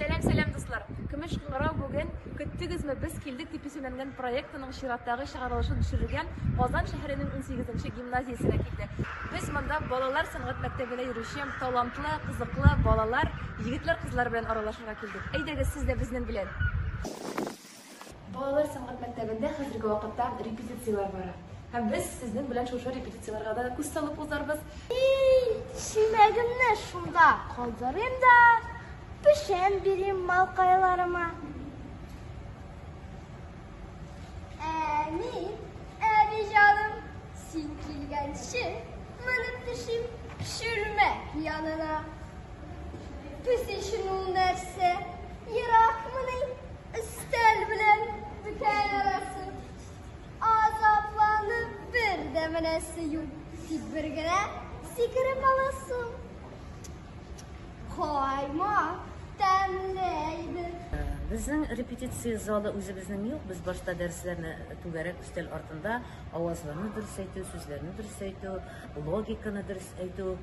Сәлам сәлам дуслар! Көмеш кыңгырау бүген Көттегезме, без килдек дип исемләнгән проектының чираттагы чыгарылышын төшерергә Казан шәһәренең унсигезенче гимназиясенә килде. Без монда балалар сәнгать мәктәбенә йөрүче талантлы, кызыклы балалар, егетләр-кызлар белән аралашырга килдек. Әйдәгез, сез дә безнең белән! Балалар сәнгать мәктәбендә хәзерге вакытта репетицияләр бара. Һәм без сезнең белән шушы репетицияләргә дә күз салып узарбыз. Чиләгемне шунда калдырыйм да, печән бирим малкайларыма. Әни, әби җаным, син килгәнче менеп төшим шүрмә янына. Песечен ул нәрсә, еракмыни? Өстәл белән бөкәй арасы Азапланып бер дә менәсе юк Тик бер генә сикереп аласы Кайма тәмле иде Безнең репетиция залы үзебезнең юк, без башта дәресләрне түгәрәк өстәл артында авазларны дөрес әйтү, сүзләрне дөрес әйтү, логиканы дөрес әйтү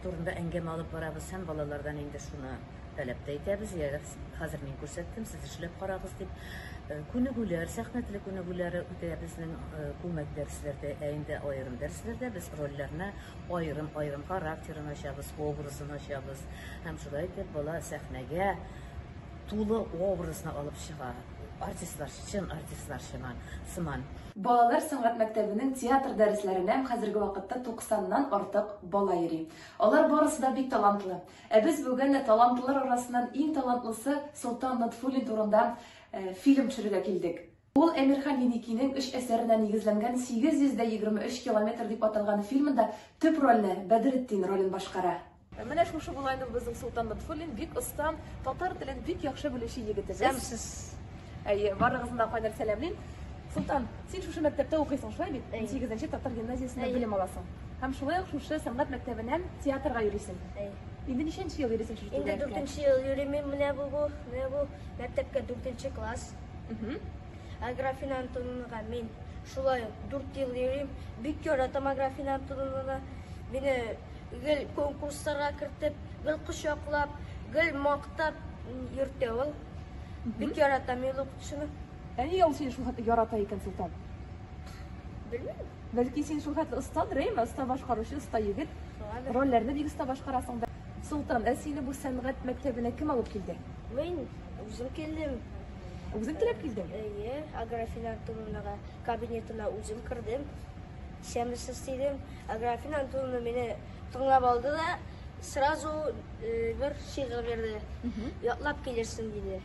турында әңгәмә алып барабыз һәм балалардан инде шуны Таләп тә итәбез, ягез, хәзер мин күрсәттем, сез эшләп карагыз дип. Э, күнегүләр, сәхнә теле күнегүләре үтә безнең э, күмәк дәресләрдә, ә инде аерым дәресләрдә без рольләрне аерым-аерым характерын ачабыз, образын ачабыз. Һәм шулай итеп бала сәхнәгә тулы образны алып чыга. Артистлар, чын артистлар сыман. сыман. Балалар сәнгать мәктәбенең театр дәресләренә хәзерге вакытта 90 нан артык бала йөри. Алар барысы да бик талантлы. Ә без бүген талантлылар арасыннан иң талантлысы Солтан Натфуллин турында э, фильм төшерергә килдек. Ул Әмирхан Еникинең өч әсәренә нигезләнгән 823 километр дип аталган фильмында төп рольне Бәдретдин ролен башкара. Менә шушы була инде безнең Солтан Лотфуллин, бик оста, татар телен бик яхшы белүче егетебез. Сәмсез. Әйе, барыгызны да кайнар сәламлим. Солтан, син шушы мәктәптә укыйсың, шулай бит? 8 татар гимназиясендә белем аласың. Һәм шулай ук шушы сәнгать мәктәбеннән театрга йөрисең. Әй. Инде ничәнче ел йөрисең шушы Инде түгәрәккә? дүртенче ел йөрим мин менә бу, бу, менә бу мәктәпкә дүртенче класс. Мгм. Аграфина Антоновнага мин шулай ук дүрт ел йөрим. Бик яратам Аграфина Антоновнаны. Мине гел конкурсларга кертеп, гел кочаклап, гел мактап м, йөртә ул. Бик яратам мин ул укытучыны. Ә нигә ул сине шул хәтле ярата икән, Солтан? Белмим. Бәлки син шул хәтле оста дрейма, оста башкаручы, оста егет. Рольләрне бик оста башкарасың. Солтан, ә сине бу сәнгать мәктәбенә кем алып килде? Мин үзем килдем. Үзең теләп килдең? Әйе, Аграфин Антоновнага кабинетына үзем кердем. Сәмесез дидем. Аграфин Антоновна мине тыңлап алды да, Сразу бер шигырь бирде. Ятлап килерсең диде.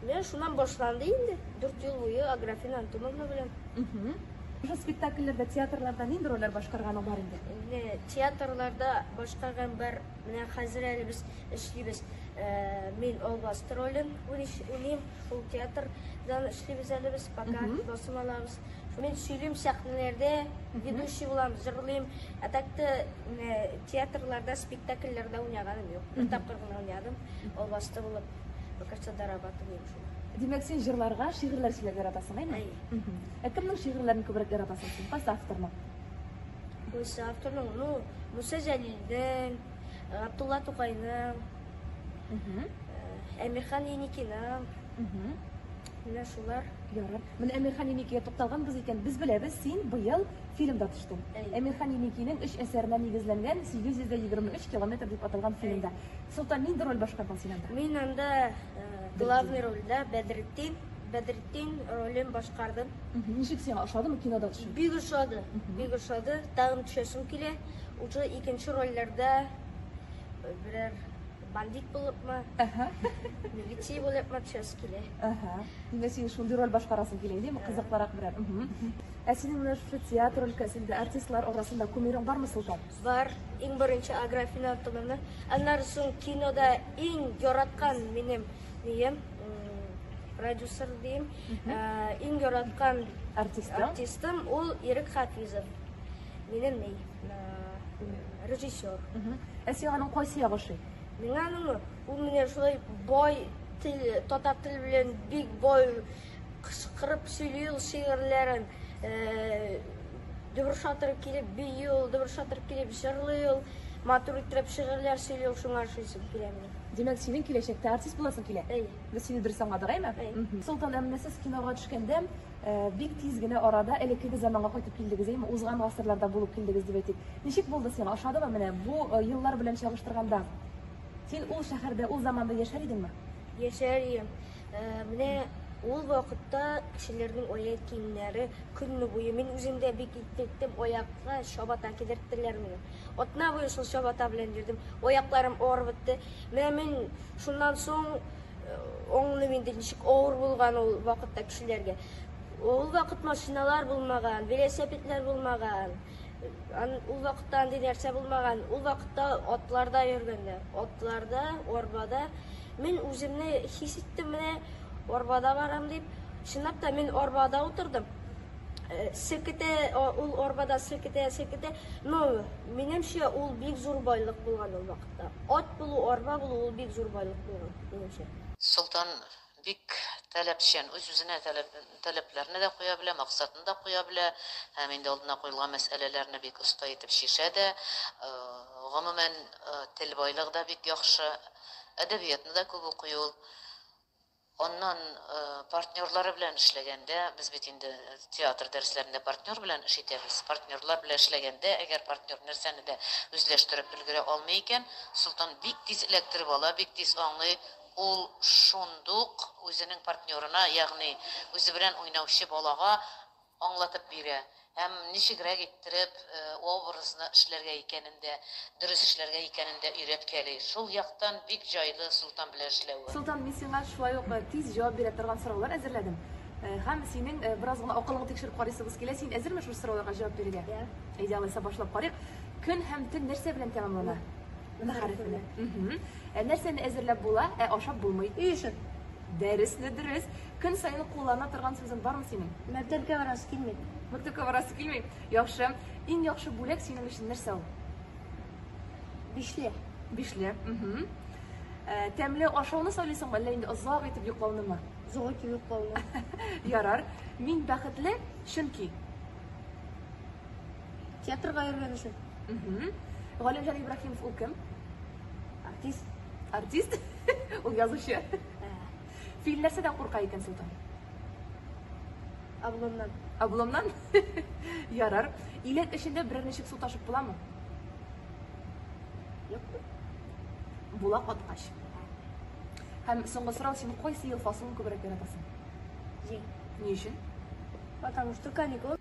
Менә шуннан башланды инде. Дүрт ел буе Аграфена Антоновна белән. Уже спектакльләрдә, театрларда нинди рольләр башкарганың бар инде? Инде театрларда башкарган бар. Менә хәзер әле без эшлибез. Мин Албаст ролен уйныйм. Ул театрдан эшлибез әле без, пока басым алабыз. Мин сөйлим сәхнәләрдә, ведущий булам, җырлыйм. Ә так та театрларда, спектакльләрдә уйнаганым юк. Бер тапкыр гына уйнадым, ул басты булып, Бакарча Дарабаты дигән шул. Димәк, син җырларга, шигырьләр сөйләргә яратасың, әйме? Әй. Ә кемнең шигырьләрен күбрәк яратасың син? Кайсы авторның? Кайсы авторның? Ну, Муса Җәлилдин, Габдулла Тукайның, Әмирхан Еникиның. Менә шулар. Ярар. Менә Әмирхан Еникигә тукталганбыз икән, без беләбез, син быел фильмда төштең. Әй. Әмирхан Еникинең өч әсәренә нигезләнгән 823 километр дип аталган фильмда. Солтан, нинди роль башкардың син анда? Мин анда главный рольдә Бәдретдин, Бәдретдин ролен башкардым. Ничек сиңа, ошадымы кинода төшү? Бик ошады, бик ошады, тагын төшәсем килә. Уже икенче рольләрдә берәр Бандит булыпмы? Әһә. Милиция булыпмы? Чөз килә. Әһә. Димәк, син шундый роль башкарасың килә, димме? Кызыклырак берәр. Ә синең менә шушы театр өлкәсендә артистлар арасында кумирың бармы, Солтан? Бар. Иң беренче Аграфина Антоновна. Аннары соң кинода иң яраткан минем дием продюсер дим. Иң яраткан артистым ул Ирек Хафизов. Минем ни? Режиссер. Ә сиңа аның кайсы ягы ошый? Миңа аның ул менә шулай бай тел, татар теле белән бик бай кычкырып сөйли ул шигырьләрен. Э, Дубр шатыр килеп бию ул, дубр шатыр килеп җырлый ул. Матур итеп шигырьләр сөйли ул, шуңа ошыйсы килә миңа. Димәк, синең киләчәктә артист буласың килә? Әйе. Без сине дөрес аңладык, әйме? Әйе. Солтан, ә менә сез кинога төшкәндә, Э, бик тиз генә арада элеккеге заманга кайтып килдегез, әйме, узган гасырларда булып килдегез дип әйтик. Ничек булды сиңа? Ошадымы менә бу э, еллар белән чагыштырганда? Син ул шәһәрдә, ул заманда яшәр идеңме? Яшәр идем. Э, менә ул вакытта кешеләрнең аяк киемнәре көнне буе мин үзем дә бик иттеттем аякка чабата кидерттеләр мине атна буе шул чабата белән йөрдем аякларым авырып бетте менә мин шуннан соң Аңлыйм инде, ничек авыр булган ул вакытта кешеләргә. Ул вакыт машиналар булмаган, велосипедлар булмаган. Ул вакытта андый нәрсә булмаган. Ул вакытта атларда йөргәннәр. Атларда, арбада. Мин үземне хис иттем менә арбада барам дип. Чынлап та мин арбада утырдым. Э, Секете, ул арбада секете, секете. Но, минемчә, ул бик зур байлык булган ул вакыт. Ат булу, арба булу ул бик зур байлык булган, минемчә. Солтан бик таләпчән, үз-үзенә таләпләрне дә куя белә, максатын да куя белә һәм инде алдына куелган мәсьәләләрне бик оста итеп чишә дә. Гомумән, тел байлыгы да бик яхшы, әдәбиятны да күп укый ул. Аннан партнерлары белән эшләгәндә, без бит инде театр дәресләрендә партнер белән эш итәбез. Партнерлар белән эшләгәндә, әгәр партнер нәрсәне дә үзләштереп өлгерә алмый икән, Солтан бик тиз эләктереп ала, бик тиз аңлый, ул шундук үзенең партнерына, ягъни үзе белән уйнаучы балага аңлатып бирә һәм ничегрәк иттереп образны эшләргә икәнен дә, дөрес эшләргә икәнен дә өйрәткәли. Шул яктан бик җайлы Солтан белән эшләве. Солтан, мин сиңа шулай ук тиз җавап бирә торган сораулар әзерләдем. Һәм синең бераз гына акылыңны тикшереп карыйсыбыз килә. Син әзерме шушы сорауларга җавап бирергә? Йә. Әйдә, алайса башлап карыйк. Көн һәм төн нәрсә белән тәмамлана? Н хәрефе белән. Мхм. Нәрсәне әзерләп була, ә ашап булмый? И өчен. Дәрес дә дөрес. Көн саен куллана торган сүзең бармы синең? Мәктәпкә барасы килми. Мәктәпкә барасы килми. Яхшы. Иң яхшы бүләк синең өчен нәрсә ул? Бишле. Бишле. Угу. Э, тәмле ашауны сайлыйсыңмы, әллә инде озак итеп йоклаунымы? Озак итеп йоклауны. Ярар. Мин бәхетле, чөнки. Театрга йөргән өчен. Угу. Галимҗан Ибраһимов ул кем? Артист. Артист? Ул язучы. Ә. Фил нәрсәдән курка икән Солтан? Обломнан. Обломнан? Ярар. Иләк эчендә берәр ничек су ташып буламы? Юк. Була каткач. Һәм соңгы сорау, син кайсы ел фасылын күбрәк яратасың? Җәй. Ни өчен? Потому что каникул.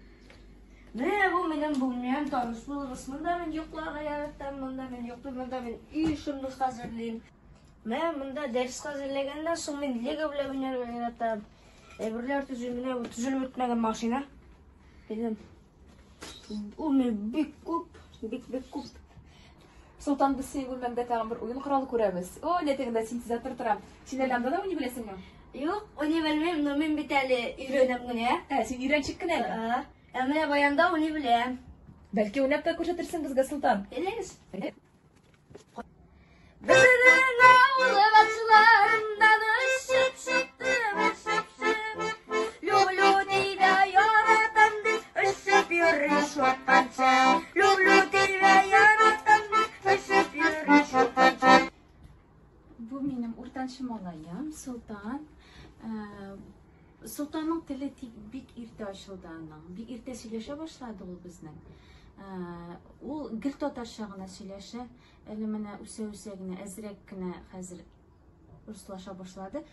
Менә бу минем бүлмәм, таныш булыгыз. Монда мин йокларга яратам, монда мин йоклыйм, монда мин өй эшемне хәзерлим. Менә монда дәрес хәзерләгәннән соң мин лего белән уйнарга яратам. Әйберләр төзим, менә бу төзелеп бетмәгән машина. Минем ул мин бик күп, бик бик күп Солтан, без синең бүлмәңдә тагын бер уен коралы күрәбез. О, ләтегендә синтезатор тора. Син әле анда да уйный беләсеңме? Юк, уйный белмим, но мин бит әле өйрәнәм генә. Ә, син өйрәнчек кенә әле. Ә менә баянда уйный беләм. Бәлки уйнап та күрсәтерсең безгә, Солтан? Килегез. Безнең авыл башларында да шып-шыптыр, шып-шып. Алтыншы малаем, Султан. Султанның теле тик бик иртә ачылды аның. Бик иртә сөйләшә башлады ул безнең. Ул гел татарча гына сөйләшә. Әле менә үсә-үсә генә, әзрәк кенә хәзер Руслаша башлады.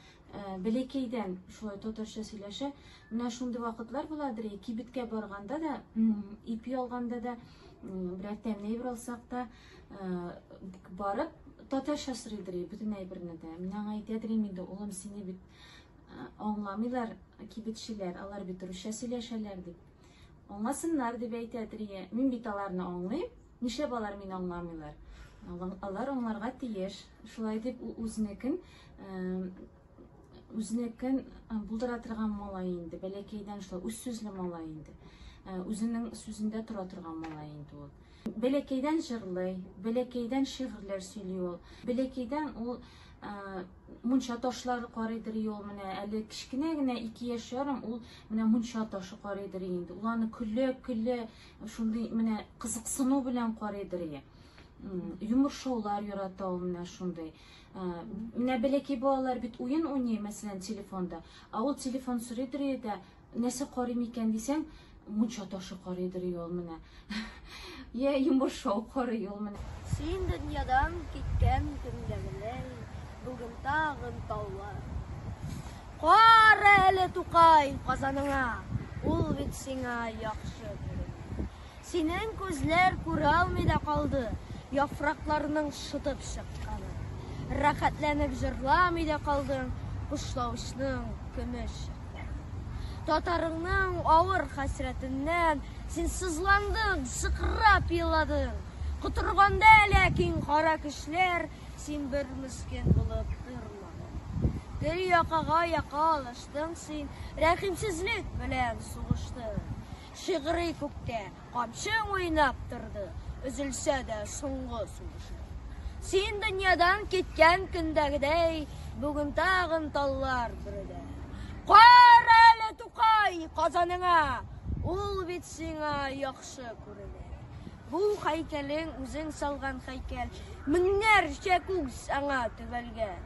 Бәләкәйдән шулай татарча сөйләшә. Менә шундый вакытлар була, дри, кибеткә барганда да, ипи алганда да, берәр тәмле әйбер алсак та, барып татарча сорый дри, бөтен әйберне дә. Менә аңа әйтә дри, инде улым сине бит аңламыйлар кибетчеләр, алар бит русча сөйләшәләр дип. Аңласыннар дип әйтә дри. Мин бит аларны аңлыйм. Нишләп алар мине аңламыйлар? Алар аңларга тиеш. Шулай дип ул үзенекен үзенекен булдыра торган малай инде. Бәләкәйдән шулай үз сүзле малай инде. Үзенең сүзендә тора торган малай инде ул. Бәләкәйдән җырлый, бәләкәйдән шигырьләр сөйли ул. Бәләкәйдән ул мунча ташлары карыйдыр ул менә әле кечкенә генә ике яшь ярым ул менә мунча ташы карыйдыр инде ул аны көлә көлә шундый менә кызыксыну белән карыйдыр ие йомыршаулар ярата ул менә шундый ә, менә бәләкәй балалар бит уен уйный мәсәлән телефонда а ул телефон сорыйдыр ие дә нәрсә карый микән дисәң мунча ташы карыйдыр ие ул менә я йомыршау карый ул менә син дөньядан киткән көндәгеләй бүген тагын таулар Кар әле, Тукай, Казаныңа, ул бит сиңа яхшы күренми. Синең күзләр күралми дә калды, яфракларның шытып чыкканын. Рәхәтләнеп җырламый да калдың, кошлавычның көмеш чыкларын. Татарыңның авыр хәсрәтеннән син сызландың, сыкрап еладың. Котырганда ләкин кара көчләр син бер мескен булып тормый. калган. Бер якага яка алыштың син, Рәхимсезлек белән сугыштың. Шигъри күктә камчың уйнап торды, Өзелсә дә соңгы сулышың. Син дөньядан киткән көндәгедәй, Бүген тагын таллар бөрелә. Кара әле, Тукай, Казаныңа, Ул бит сиңа яхшы күренә. Бу һәйкәлең үзең салган һәйкәл, меңнәрчә күз аңа төбәлгән.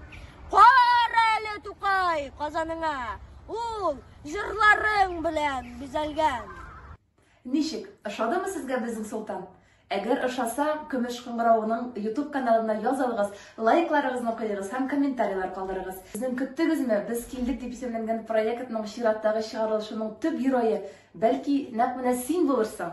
Кара әле, Тукай, Казаныңа, ул җырларың белән бизәлгән. Ничек, ошадымы сезгә безнең Солтан? Әгәр ошаса, Көмеш кыңгыравының YouTube каналына язылыгыз, лайкларыгызны куегыз һәм комментарийлар калдырыгыз. Сезнең Көттегезме, без килдек дип исемләнгән проектның чираттагы чыгарылышының төп герое, бәлки, нәкъ менә син булырсың!